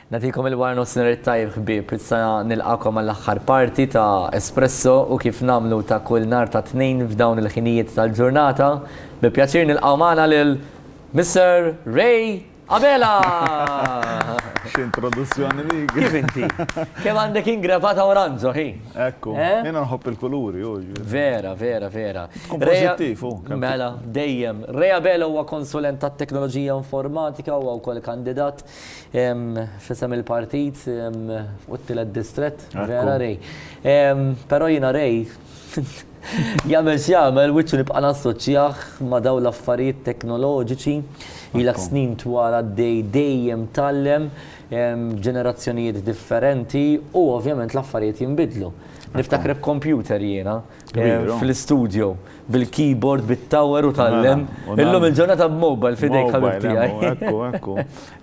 Nagħtikom il-waranofsinhar it-tajjeb ħbieb, issa nilqagħkom għall-aħħar parti ta' Espresso u kif nagħmlu ta' kull nhar ta' Tnejn f'dawn il-ħinijiet tal-ġurnata, bi pjaċir nilqgħu magħna lil Mister Ray Abela! X'introduzzjoni dik! Kif inti? Kemm għandek ingravata oranġo hi? Ekku, jena nħobb il-kuluri, u ġviri. Vera, vera, vera. Kompozittiv, u. Mela, dejjem. Rea Belo huwa konsulent ta' teknoloġija informatika u għaw kol kandidat fisem il-partit u t-tilet distret. Vera, rej. Pero jena rej, Jamel xjamel, wiċċu nibqa' nassoċjaħ ma' daw l-affarijiet teknoloġiċi, ilak snin twara dej dejjem tallem, ġenerazzjonijiet differenti u ovvjament l-affarijiet jinbidlu. Niftakar b'kompjuter jiena fl-istudio bil-keyboard, bit-tower u tal-lem. Illum il-ġurnata b'mobile f'idejk ħabib tiegħi. Ekku, ekku.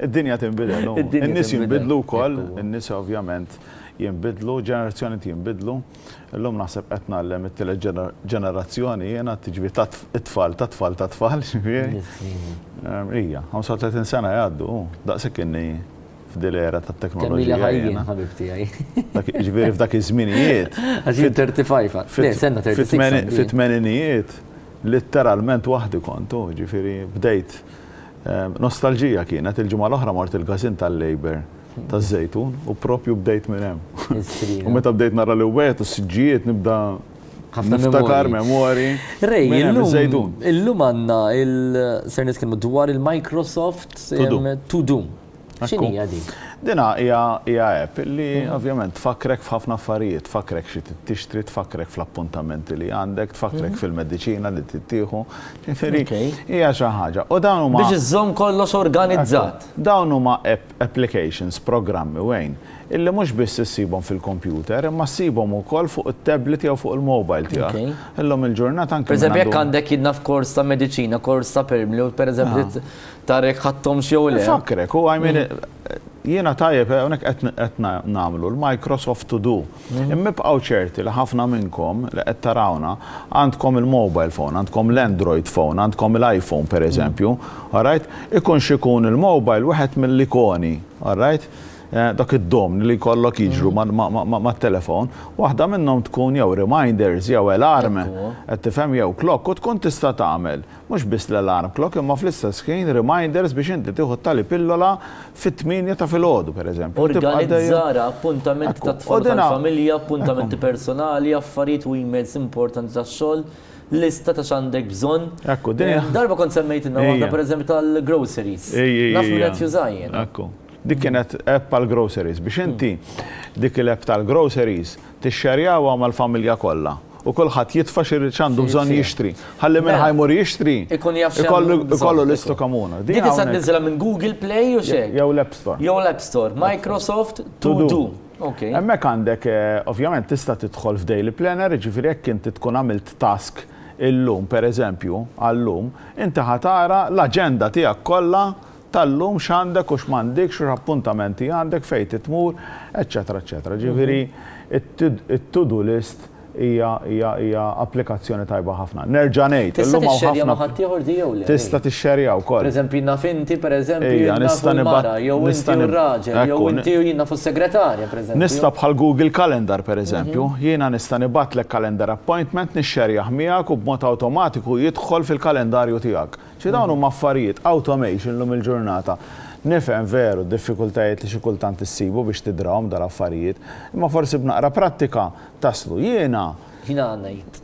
Id-dinja tinbidel. In-nies jinbidlu wkoll, in-nies ovvjament jinbidlu, ġenerazzjonijiet jinbidlu. Illum naħseb qed ngħallem it-tielet ġenerazzjoni jiena tiġri tat-tfal tat-tfal tat-tfal. Hija, 35 sena jgħaddu, daqshekk inni f'dil era tat-teknoloġija. Kemmili ħajjin, ħabib tiegħi. Ġifieri f'dak iż-żminijiet. Għax jien 35. Le, senna 35. Fit-tmeninijiet, litteralment waħdi kont, u ġifieri bdejt nostalġija kienet il-ġimgħa l-oħra mort il-każin tal-Labour taż-Żejtun u proprju bdejt minn hemm. U meta bdejt nara l-iwwejjed u s-siġġijiet nibda niftakar memorji. Ray, illum għandna ser nitkellmu dwar il-Microsoft To Do. X'inhi hija din? Din hija app li ovvjament tfakkrek f'ħafna affarijiet, tfakkrek xi trid tixtri, tfakkrek fl-appuntamenti li għandek, tfakkrek fil-mediċina li trid tieħu. Ġifieri hija xi ħaġa. Biex iżżomm kollox organizzat. Dawn huma apps. applications, programmi u għin, illi mhux biss issibhom fil-kompjuter, imma ssibhom ukoll fuq it-tablet jew fuq il-mobile tiegħek. Illum il-ġurnata anki minn għand. Pereżempju jekk għandek jien naf kors ta' mediċina, kors ta' permli u pereżempju trid tara jekk ħadthomx jew le. Infakkrek, u I mean jiena tajjeb, hawnhekk qed nagħmlu l-Microsoft To Do. Imma ibqgħu ċerti li ħafna minnkom li qed tarawna għandkom il-mobile phone, għandkom l-Android phone, għandkom il-iPhone pereżempju, alright? Ikun x'ikun il-mobile wieħed mill-ikoni, alright? Dak id-domni li jkollok jiġru mat-telefon, waħda minnhom tkun jew reminders jew alarm, qed tifhem, jew clock u tkun tista' tagħmel. Mhux biss l-alarm clock imma fl-istess ħin reminders biex inti tieħu t-tali pillola fit-tmienja ta' filgħodu, pereżempju. Organizzara, appuntamenti tat-tfal u tal-familja, appuntamenti personali, affarijiet u emails importanti tax-xogħol, lista ta' x'għandek bżonn. Darba kont semmejtilna waħda, pereżempju, tal-groceries. Naf min qed juża jiena. Ekku. Dik kienet app għall-groceries. Biex inti dik il-app tal-groceries tixxerjawha mal-familja kollha. u kulħadd jitfa' xi jrid x'għandu bżonn jixtri. Ħalli minn ħa jmur jixtri, ikollu lista komuna. Din tista' tniżżilha minn Google Play u xejn. Jew l-App Store. Jew l-App Store. Microsoft To Do. Hemmhekk għandek, ovvjament tista' tidħol f'daily planner, jiġifieri jekk inti tkun għamilt task illum, pereżempju, għal-lum, inti ħa tara l-aġenda tiegħek kollha tal-lum x'għandek u x'm'għandikx u x'appuntamenti għandek, fejn trid tmur, eċċetera eċċetera. Ġifieri t-to do list hija hija hija applikazzjoni tajba ħafna. Nerġa' ngħid, illum hawn ħafna. Tista' tixxerja ma' ħaddieħor di jew le? Tista' tixxerja wkoll. Pereżempju naf inti pereżempju jien naf il-mara jew inti u r-raġel jew inti u jien naf is-segretarja pereżempju. Nista' bħal Google Calendar pereżempju, jiena nista' nibgħatlek calendar appointment nixxerjah miegħek u b'mod awtomatiku jidħol fil-kalendarju tiegħek. Xi dawn huma affarijiet, automation llum il-ġurnata. Nifhem veru d-diffikultajiet li xi kultant issibu biex tidrahom dal-affarijiet, imma forsi b'naqra prattika taslu. Jiena. Jiena ngħid,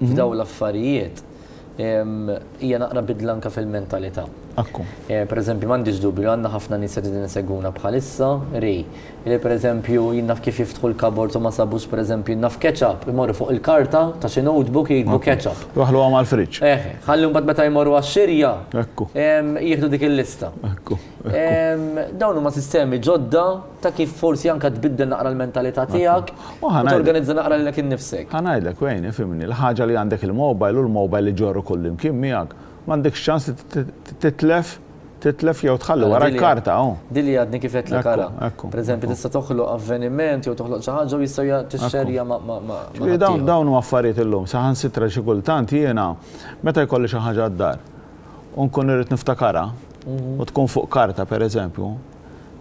f'dawn l-affarijiet, hija naqra bidla anke fil-mentalità. Ekku. Pereżempju, m'għandix dubju li għandna ħafna nies li qegħdin isegwuna bħalissa, ri, Li pereżempju jien naf kif jiftħu l-cupboards u ma sabux pereżempju naf ketchup, imorru fuq il-karta ta' xi notebook jiktbu ketchup. Idaħħluha mal-fridge. Eh, ħalli mbagħad meta jmorru għax-xirja, jieħdu dik il-lista. Dawn huma sistemi ġodda ta' kif forsi anke tbiddel naqra l-mentalità tiegħek u torganizza naqra lilek innifsek. Ħa ngħidlek Wayne, ifhimni, l-ħaġa li għandek il-mobile u l-mobile iġorru kullimkien miegħek, m'għandekx ċans li titlef. Titlef jew tħalli wara l-karta, oh. Din li għadni kif qedtlek ara. Per eżempju, tista' toħloq avveniment jew toħloq xi ħaġa u jistgħu tixxerja ma' ma'. Ġifieri dawn dawn huma affarijiet illum, saħansitra xi kultant jiena meta jkolli xi ħaġa d-dar u nkun irrid niftakarha u tkun fuq karta per eżempju,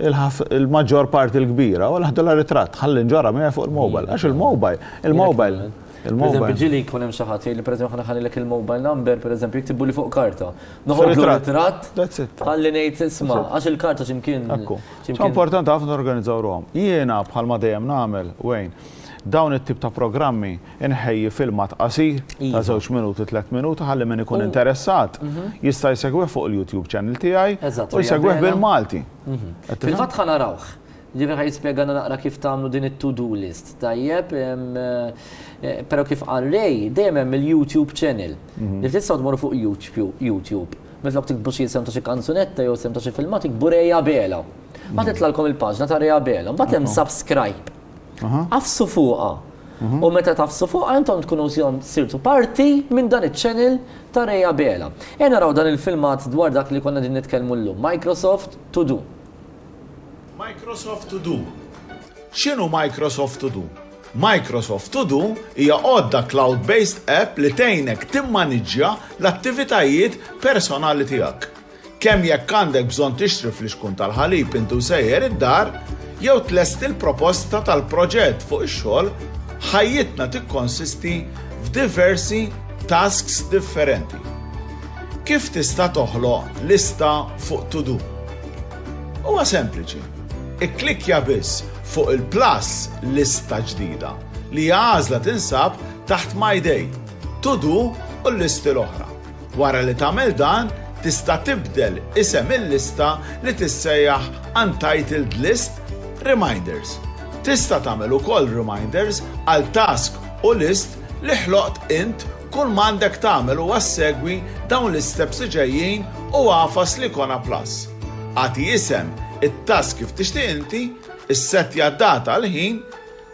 il-maġġor parti l-kbira u l-ħdula ritratt ħalli nġorha miegħi fuq il-mobile. Għax il-mobile, il-mobile. Il-mobile. Ġili jkun hemm xi ħadd jgħid li pereżempju ħana ħallilek il-mobile number pereżempju jiktibuli fuq karta. Noħodlu ritratt. That's it. Ħalli ngħid isma' għax il-karta x'imkien. Ekku. Importanti ħafna norganizzaw ruhom. Jiena bħalma dejjem nagħmel, Wayne, dawn it-tip ta' programmi Inħejji filmat qasir ta' żewġ minuti, tliet minuti ħalli min ikun interessat jista' jsegwih fuq il-YouTube channel tiegħi u jsegwih bil-Malti. Fil-fatt ħa narawh. Ġifieri ħa jispjegalna naqra kif tagħmlu din it-to-do list, tajjeb? Però kif qal Ray, dejjem hemm il-YouTube channel. Li tistgħu tmorru fuq YouTube. Minflok tiktbu xi isem ta' xi kanzunetta jew isem ta' xi filmat iktbu Ray Abela. Mbagħad titlgħalkom il-paġna ta' Ray Abela. Mbagħad hemm subscribe. Agħfsu fuqha. U meta tagħfsu fuqha intom tkunu żjom sirtu parti minn dan iċ-channel ta' Ray Abela. Ejja naraw dan il-filmat dwar dak li konna qegħdin nitkellmu llum, Microsoft To Do. Microsoft To Do X'inhu Microsoft To Do? Microsoft To Do hija għodda cloud-based app li tgħinek timmaniġġja l-attivitajiet personali tiegħek. Kemm jekk għandek bżonn tixtri flixkun tal-ħalib int u sejjer id-dar, jew tlesti l-proposta tal-proġett fuq ix-xogħol, ħajjitna tikkonsisti f'diversi tasks differenti. Kif tista' toħloq lista fuq to-do? Huwa sempliċi. Ikklikkja biss fuq il-plus Lista Ġdida, li hija għażla tinsab taħt My Day, To-Do u l-listi l-oħra. Wara li tagħmel dan, tista' tibdel isem il-lista li tissejjaħ Untitled List, Reminders. Tista' tagħmel ukoll reminders għal task u list li ħloqt int kull m'għandek tagħmel huwa ssegwi dawn l-isteps li ġejjin u agħfas l-ikona plus. Agħti isem it-task kif tixtieq inti, issettja d-data, l-ħin,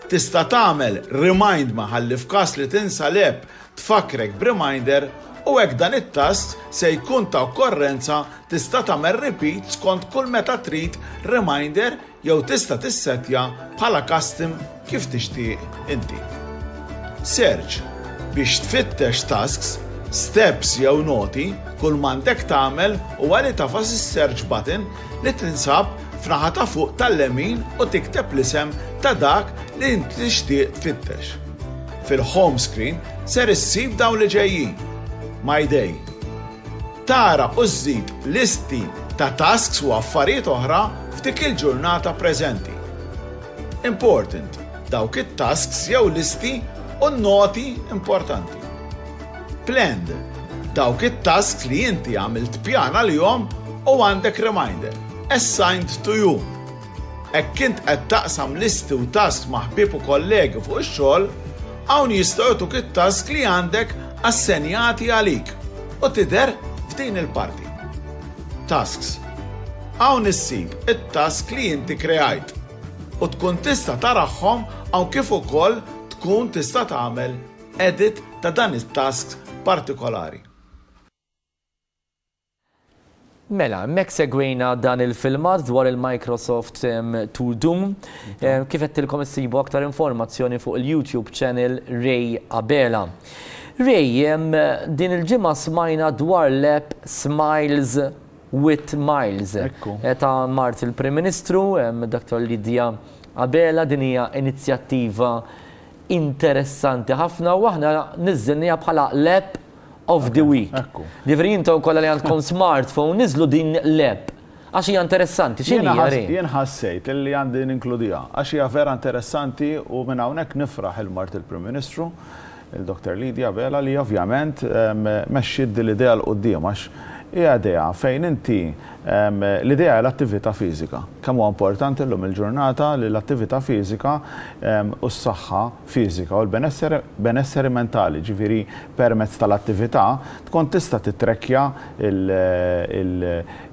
Tista' tagħmel remind ma ħalli f'każ li tinsa l-app tfakkrek b'reminder u hekk dan it-tast se jkun ta' okkorrenza tista' tagħmel repeat skont kull meta trid reminder jew tista' tissettja bħala custom kif tixtieq inti. Search, biex tfittex tasks, steps jew noti kull m'għandek tagħmel huwa li tagħfas is-search button li tinsab f'naħa ta' fuq tal-lemin u tikteb l-isem ta' dak li int tixtieq tfittex. Fil-home screen ser issib dawn li ġejjin, My Day. Tara u żżid listi ta' tasks u affarijiet oħra f'dik il-ġurnata preżenti. Important, dawk it-tasks jew listi u n-noti importanti. Planned, dawk it-tasks li inti għamilt pjan għalihom u għandek reminder, assigned to you. Hekk int qed taqsam listi u tasks ma' ħbieb u kollegi fuq ix-xogħol, hawn jistgħu jagħtuk it-tasks li għandek assenjati għalik u tidher f'din il-parti. Tasks. Hawn issib it-tasks li inti kreajt u tkun tista' tarahhom hawn kif ukoll tkun tista' tagħmel edit ta' dan it-tasks partikolari. Mela, hemmhekk segwejna dan il-filmat dwar il-Microsoft To Do. Kif għedtilkom issibu aktar informazzjoni fuq il-YouTube channel Ray Abela. Ray, din il-ġimgħa smajna dwar l-app Smiles with Miles. Ekku. Ta' mart il-Prim Ministru, Dottor Lydia Abela, din hija inizjattiva interessanti ħafna u aħna niżżilniha bħala l-app, of the week. Ġifieri intom kollha li għandkom smartphone niżlu din l-app għax hija interessanti. X'inhi Ray? Jien ħassejt li għandi ninkludiha għax hija vera interessanti u minn hawnhekk nifraħ lil mart il-Prim Ministru, il-Dr. Lydia Abela li ovvjament mexxiet din l-idea 'l quddiem għax hija idea fejn inti l-idea hi l-attività fiżika. Kemm huwa importanti llum il-ġurnata li l-attività fiżika u s-saħħa, fiżika u l-benesseri benesseri mentali, jiġifieri permezz tal-attività tkun tista' tittrekkja l il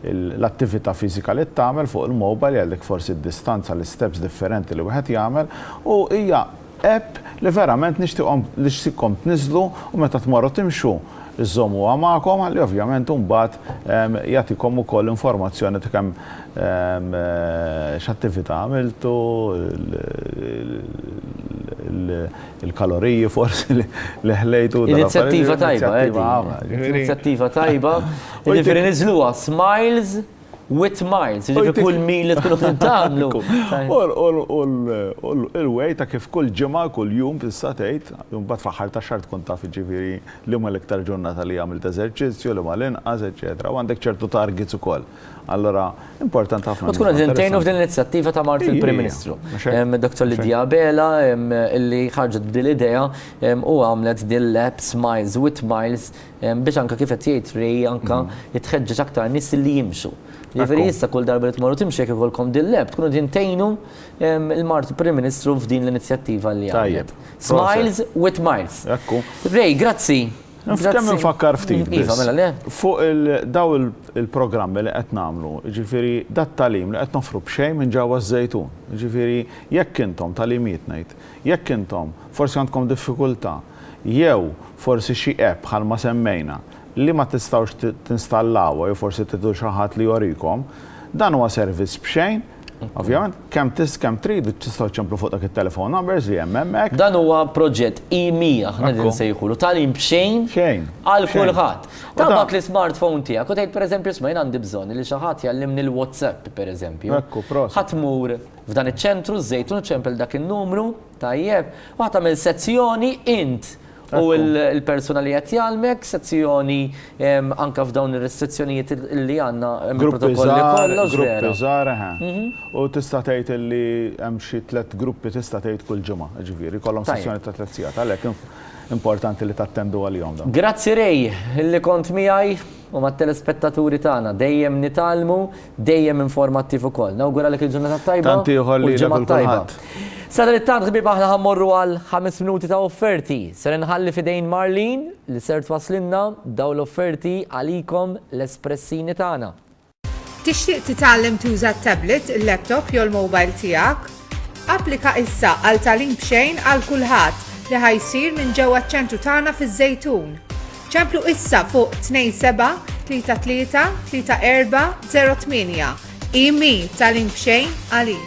il l-attività fiżika li tagħmel fuq il-mobile jgħidlek forsi d-distanza l-isteps differenti li wieħed jagħmel u hija app li verament nixtieqhom nixtieqkom tniżżlu u meta tmorru timxu żżommuha magħkom ħalli ovvjament imbagħad jagħtikom ukoll informazzjoni ta' kemm x'attività għamiltu, il-kaloriji forsi li ħlejtu. Inizjattiva tajba, Eddie. Inizjattiva tajba. Jiġifieri niżluha smiles. Wit miles, ġifi kull mil li tkunu tagħmlu. U l-way ta' kif kull ġimgħa, kull jum tista' tgħid, imbagħad fl-aħħar ta' xahar tkun taf ġifieri liema l-iktar ġurnata li għamilt eżerċizzju, liema l-inqas, eċċetera. U għandek ċertu targets ukoll. Allura importanti ħafna. U tkun qed intgħinu f'din l-inizjattiva ta' mart il-Prim Ministru. Dr. Lydia Abela li ħarġet b'din l-idea u għamlet din l-app Smiles with Miles Biex anka kif qed jgħid Ray anka jitħeġġeġ aktar nies li jimxu. Jiġifieri issa kull darba li tmorru timxu jekk ikollkom din l-app tkunu qegħdin tgħinu l-Mart Prim Ministru f'din l-inizjattiva li għamlet. Smiles with miles. Ray, grazzi. Kemm infakkar ftit biss. Iva, mela le. Fuq daw il-programmi li qed nagħmlu, jiġifieri dat tagħlim li qed noffru b'xejn minn ġewwa ż-Żejtun. Jiġifieri jekk intom tagħlimijiet ngħid, jekk intom forsi għandkom diffikultà, Jew forsi xi app bħalma semmejna li ma tistgħux tinstallawha jew forsi tridu xi ħadd li jorikom. Dan huwa servizz b'xejn, ovvjament, kemm kemm tridu tistgħu ċċemplu fuq dak it-telephone numbers li hemm hemmhekk. Dan huwa proġett E100 aħna qegħdin insejħulu, tagħlim b'xejn għal kulħadd. Tabgħat l-ismartphone tiegħek u tgħid pereżempju isma' jien għandi bżonn li xi ħadd jgħallimni l-WhatsApp pereżempju. Ħa tmur f'dan iċ-ċentru, ż-Żejtun, ċempel dak in-numru, Tajjeb. U ħa tagħmel sezzjoni int u l-persuna li qed jgħallmek, sezzjoni anke f'dawn ir-restrizzjonijiet li għandna mill-protokolli kollha. Gruppi żgħar, eħe. U tista' tgħid li hemm xi tliet gruppi tista' tgħid kull ġimgħa, jiġifieri jkollhom sessjoni ta' tliet sigħat. Għalhekk importanti li tattendu għalihom dawn. Grazzi Ray li kont miegħi u mat-telespettaturi tagħna. Dejjem nitgħallmu. Dejjem informattiv ukoll. Nawguralek il-ġurnata t-tajba. Tant ieħor lilek u l-kulħadd. Sadalittant ħbieb aħna ħammorru għal ħames minuti ta' offerti. Ser inħalli f'idejn Marlene li ser twasslilna dawn l-offerti għalikom l-espressini tagħna. Tixtieq titgħallem tuża t-tablet, il-laptop jew il-mobile tiegħek? Applika issa għal tagħlim b'xejn għal kulħadd li ħa jsir minn ġewwa ċ-ċentru tagħna fiż-Żejtun. Ċemplu issa fuq 27-33-34-08. Imi tagħlim b'xejn għalik.